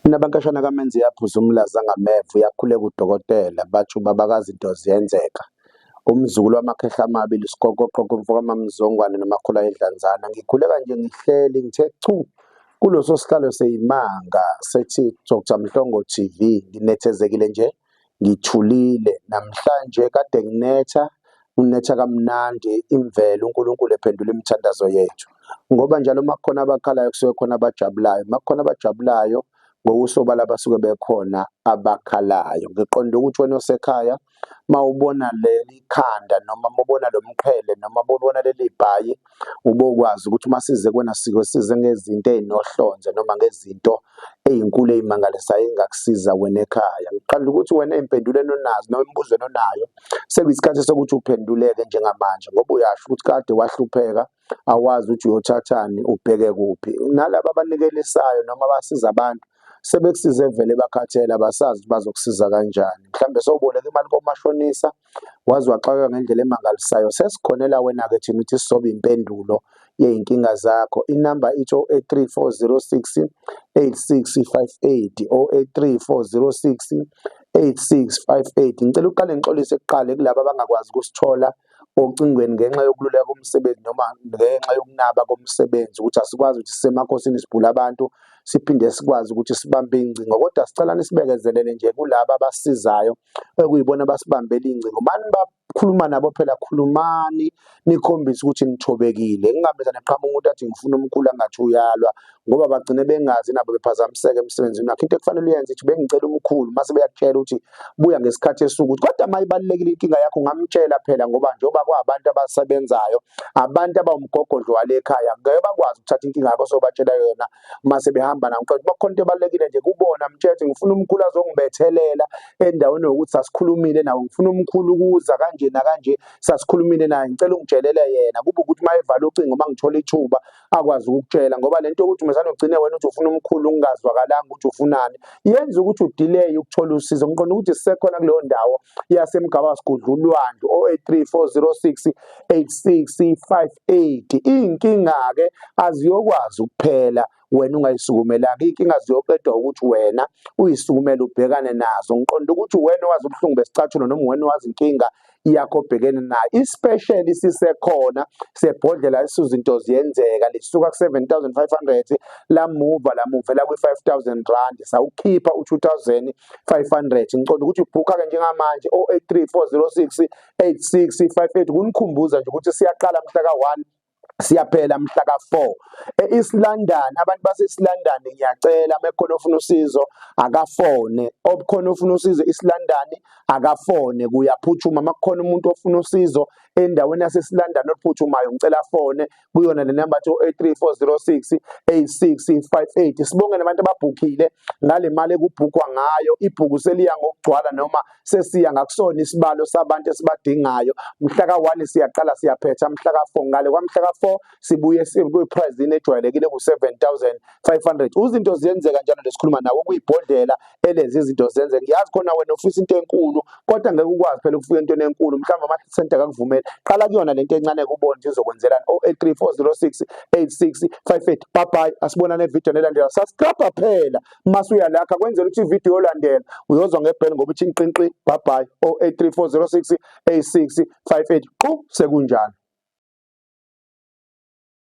Inabankashana kaMenzi yaphuza umlaza ngameva uyakhuleka udokotela bathi ubaba kaZinto ziyenzeka. Umzukulu wamakhehla amabili uSikokoqoko umfo kaMaMzongwane noMakhula Idlanzana. Ngikhuleka nje ngihleli ngithe chu kuloso sihlalo seyimanga sethi Dr Mhlongo TV nginethezekile nje ngithulile namhlanje kade nginetha unetha kamnandi imvelo uNkulunkulu ephendula imithandazo yethu ngoba njalo uma kukhona abakhalayo kusuke khona abajabulayo uma kukhona abajabulayo ngokusobala abasuke bekhona abakhalayo ngiqonde ukuthi wena osekhaya mawubona leli khanda noma mubona lomqhele noma mubona leli bhayi ubokwazi ukuthi uma size kwena siko size ngezinto ezinohlonze noma ngezinto ezinkulu ezimangalisayo engakusiza wena ekhaya ngiqala ukuthi wena impendulweni onazo noma imbuzweni onayo sekuyisikhathi sokuthi uphenduleke njengamanje ngoba uyasho ukuthi kade wahlupheka awazi ukuthi uyothathani ubheke kuphi nalabo abanikelisayo noma abasiza abantu sebekusize vele bakhathele abasazi bazokusiza kanjani mhlawumbe sowuboleka imali komashonisa Waze waxakeka ngendlela emangalisayo. Sesikhonela wena-ke thina ukuthi sizobe impendulo yey'nkinga zakho. Inamba ithi 083 406 8658 083 406 8658. Ngicela uqale ngixolise kuqale kulabo abangakwazi ukusithola ocingweni ngenxa yokululeka komsebenzi noma ngenxa yokunaba komsebenzi ukuthi asikwazi ukuthi sisemakhosini sibhula abantu siphinde sikwazi ukuthi sibambe ingcingo kodwa sicela nisibekezelele nje kulaba abasizayo okuyibona abasibambela ingcingo mani bakhuluma nabo phela khulumani nikhombise ukuthi nithobekile kungameza neqhama umuntu athi ngifuna umkhulu angathi uyalwa ngoba bagcine bengazi nabo bephazamiseke emsebenzini wakhe into ekufanele uyenze ithi bengicela umkhulu mase beyakutshela ukuthi buya ngesikhathi esuku ukuthi kodwa uma ibalulekile inkinga yakho ngamtshela phela ngoba njengoba kwabantu abasebenzayo abantu abawumgogodlo wale ekhaya ngeke bakwazi ukuthatha inkinga yakho sobatshela yona uma sebehamba nami kodwa bakhona into ebalulekile nje kubona mtshethe ngifuna umkhulu azongibethelela endaweni yokuthi sasikhulumile nawo ngifuna umkhulu ukuza kanje nakanje sasikhulumile naye ngicela ungitshelele yena kube ukuthi uma evala ucingo uma ngithola ithuba akwazi ukukutshela ngoba le nto yokuthi umesane ugcine wena uthi ufuna umkhulu ungazwakalanga ukuthi ufunani yenza ukuthi udelay ukuthola usizo ngiqonda ukuthi sisekhona kuleyo ndawo yasemgaba sigudla ulwandle o-83 406 8658 inkinga-ke aziyokwazi ukuphela wena ungayisukumelanga iy'nkinga ziyoqedwa ukuthi wena uyisukumele ubhekane nazo ngiqonda ukuthi wena owazi ubuhlungu besicathulo noma wena owazi inkinga yakho obhekene nayo isipesheli sisekhona sebhodlela isuzinto ziyenzeka lisuka ku-7500 lamuva lamuvela kwi-5000 rand sawukhipha u-2500 ngiqonda ukuthi ubhukha-ke njengamanje 083406 8658 kunikhumbuza nje ukuthi siyaqala mhla ka-1 siyaphela mhla ka-4 e-east london abantu base-east london ngiyacela uma ekhona ofuna usizo akafone obukhona ofuna usizo e-east london akafone kuyaphuthuma uma kukhona umuntu ofuna usizo endaweni yase-east london oluphuthumayo ngicela afone kuyona le number to 83406 8658 sibonge nabantu ababhukile ngale mali ekubhukwa ngayo ibhuku seliya ngokugcwala noma sesiya ngakusona isibalo sabantu esibadingayo mhla ka1 siyaqala siyaphetha mhla ka4 ngale kwamhla ka4 sibuye kuyiprice ejwayelekile ku 7500 uzinto ziyenzeka njalo lesikhuluma nawo kuyibhodlela elezi izinto zenze ngiyazi khona wena ufisa into enkulu kodwa ngeke ukwazi phela ukufika into enkulu mhlawumbe ama center akakuvumeli qala kuyona lento encane kubona nje izokwenzelani 083406 8658 bye bye asibonane evideo elandela subscribe phela masuya lakha kwenzela ukuthi ivideo yolandela uyozwa ngebheli ngoba ithi inqinqi bye bye 083406 8658 qhu sekunjalo